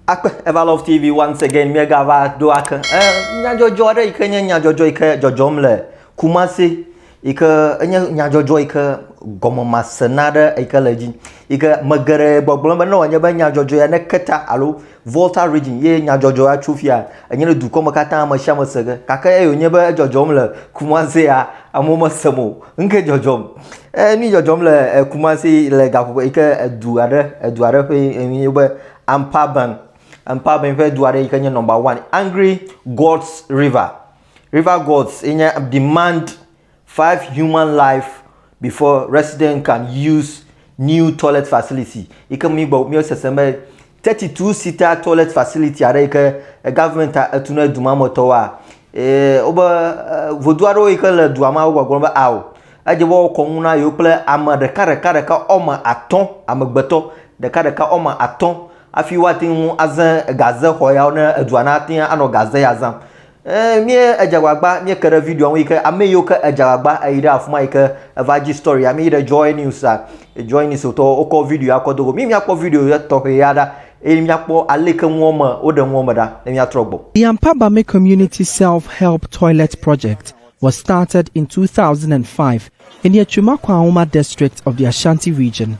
Akpe Eva Love TV once again míegava ɖo ake e, nyadzɔdzɔ aɖe yi ke nye nyadzɔdzɔ yi ke dzɔdzɔm le Kumasi yi ke enye nyadzɔdzɔ yi ke gɔmemase na aɖe yi ke le edzi yi ke me geɖe gbɔgblɔ be ne wòanye be nyadzɔdzɔ ya ne keta alo Volta region ye nyadzɔdzɔ ya tso fia enye ne dukɔ me katã ame sia ame se ge gake eyi wònye be edzɔdzɔm le Kumasi ya amewo mesem o Ŋke dzɔdzɔm. E nu dzɔdzɔm le e, Kumasi le gaƒoƒo yi ke edu aɖe edu aɖe ƒe enyi be Ampaban. Ampaban ƒe du aɖe yi ke nye number one. Angry Gods River. River Gods ye nye demand five human life before resident can use new toilet facility yi ke mi gbɔ mi sese be Teti tu sita toilet facility aɖe yi ke eh, government etu ne du ma me tɔwoa eh, wobe eh, vodu aɖewo yi ke le dua ma wogbɔgblɔ be ao edze be wokɔ nu na yewo kple ame ɖeka ɖeka ɖeka ɔme atɔ amegbetɔ ɖeka ɖeka ɔme atɔ hafi woate ŋu aze gaze xɔ yawo ne edua na ate anɔ gaze ya zam Eee mí edze agbagba mí ke ɖe video ŋu yi ke ame yiwo ke edze agbagba eyi ɖe afuma yi ke eva dzi story ame yi ɖe joy news a joy news wotɔ wokɔ video ya kɔ do go mí mía kpɔ video ya tɔxɛ ya ɖa eye mía kpɔ ale ke ŋua me woɖe ŋua me ɖa ne mía trɔ gbɔ. The Ampabame Community Self-Help Toilet Project was started in two thousand and five in the Echumakwa-Auma district of the Ashanti Region.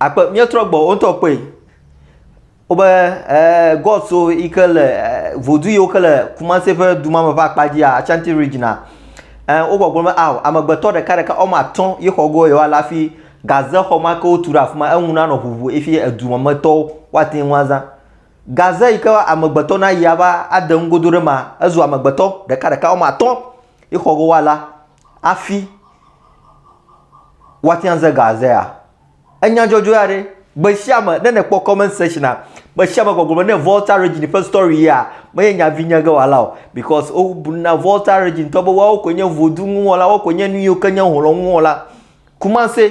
Akpe míetrɔ gbɔ wo ŋutɔ kpɔe. Wobe eh, God so yi ke le eh, vodu yiwo ke le Kumasi ƒe du ma me ƒe akpa dzia, Ashanti regiona. Eh, wogbɔgblɔ be ao amegbetɔ ɖeka ɖeka wɔme atɔ̃ ye xɔ go yewoa le hafi gaze xɔ ma ke wotu ɖe afi ma eŋu nanɔ ʋuʋu efi edu ma me tɔwo woate ŋu azã. Gaze yi ke amegbetɔ na yi ava ade nugodo ɖe ma ezu amegbetɔ ɖeka ɖeka wɔme atɔ̃ ye xɔ go woala hafi woate ŋu aze gazea. Enya dzɔdzɔe aɖe. Gbesiame ne nekpɔ comment section a, gbesiame gbɔgblɔ me ne Volta Regine ƒe story yea, menye nya vi nye ge wɔla o because wo bu na Volta Regine tɔ be woawo koe nye Vodou ŋu wɔla, woawo koe nye nuyiwo ke nye hlɔ̃ ŋu wɔla. Kumase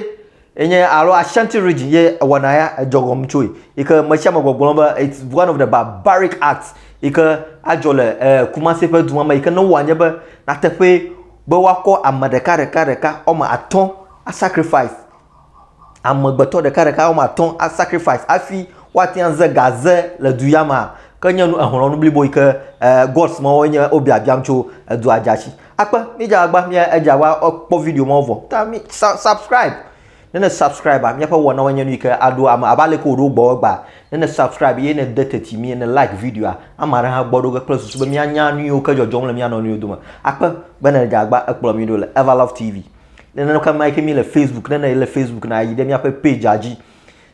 ye nye alo Ashanti Regine ye ewɔna ya edzɔ gɔme tsoe yi ke mesiame gbɔgblɔ be it's one of the barbaric acts yi ke adzɔ le eh, Kumase ƒe dua me yi ke ne wowɔ anye be nateƒee be woakɔ ame ɖeka ɖeka ɖeka wɔme atɔ̃ asacrifice amegbetɔ ɖeka ɖeka wɔme atɔ a sacrifice hafi woate ŋu aze gaze le du ya mea, ke nye nu ehlɔ̃ nu blibo yi ke eh, gods ma woe nye wobiabiam tso edua dza tsi. Akpe mídze agba mía edza wa kpɔ video ma vɔ. Ta mi sa, subscribe. Ne ne subscribe míaƒe wɔnawo nye nu yi ke aɖo ame abe ale ke wòɖo gbɔ egbea. Ne ne subscribe ye ne de teti mi ne like videoa, ame aɖe hã gbɔ ɖo ge kple susu be míanya nu yiwo ke dzɔdzɔm le mía nɔnɔewo dome. Akpe be ne edze agba ekplɔ mi ɖo le Everlove TV. Nenema ke ma ke mi le Facebook, ne ne le Facebook na yi ɖe miaƒe pagea dzi.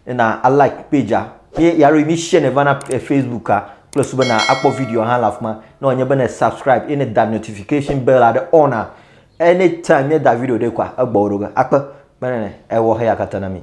Na a like pagea. Mi ya ɖo mi share ne va na eh, Facebooka kple su be na akpɔ video hã le afi ma. Ne wònye be ne subscribe eye ne da notification bell aɖe on a anytime mi da video ɖe kɔa egbɔ ɖo ge akpe. Menene ewɔ heya katã na mi.